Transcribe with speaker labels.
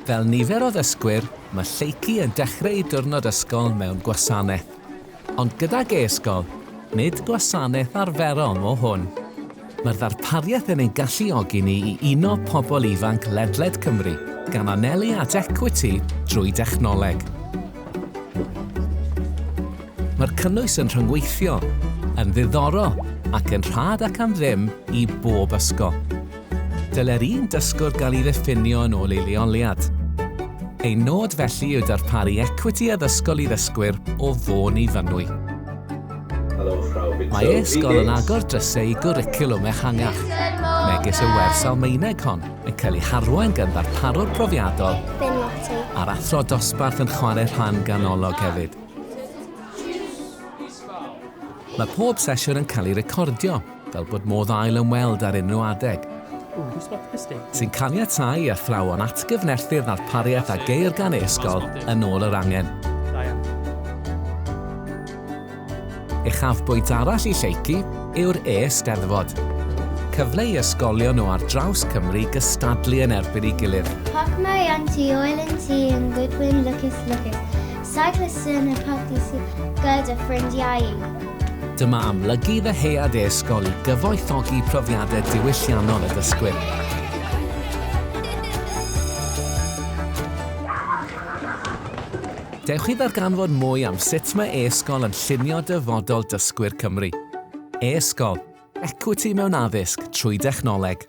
Speaker 1: Fel nifer o ddysgwyr, mae Lleucu yn dechreu ei diwrnod ysgol mewn gwasanaeth. Ond gydag e-ysgol, nid gwasanaeth arferol o hwn. Mae'r ddarpariaeth yn ein galluogi ni i uno pobl ifanc ledled Cymru, gan anelu at ecwiti drwy dechnoleg. Mae'r cynnwys yn rhyngweithiol, yn ddiddorol ac yn rhad ac am ddim i bob ysgol. Dylai'r un dysgwr gael ei ddiffinio yn ôl ei leoliad. Ein nod felly yw darparu ecwiti addysgol i ddysgwyr o Fôn i Fynwy. Mae ei ysgol yn agor drysau i gwricwlwm ehangach, megis y wers Almaeneg hon, yn cael ei harwain gan ddarparwr profiadol a'r athro dosbarth yn chwarae rhan ganolog hefyd. Mae pob sesiwn yn cael ei recordio, fel bod modd ail ymweld ar unrhyw adeg, sy'n caniatáu i athrawon atgyfnerthu'r ddarpariaeth a geir gan ei ysgol yn ôl yr angen. Uchafbwynt arall i Lleucu yw'r E-Steddfod, cyfle i ysgolion o ar draws Cymru gystadlu yn erbyn ei gilydd. Parc Mary Ann T
Speaker 2: Oil and Tea yn Goodwin Lwcus Lwcus, Cyclist Sir Nepaltisi gyda ffrindiau i. Dyma
Speaker 1: amlygu ddyhead e ysgol i gyfoethogi profiadau diwylliannol y dysgwyr. Dewch i ddarganfod mwy am sut mae e-ysgol yn llunio dyfodol dysgwyr Cymru. E-ysgol, equity mewn addysg trwy dechnoleg.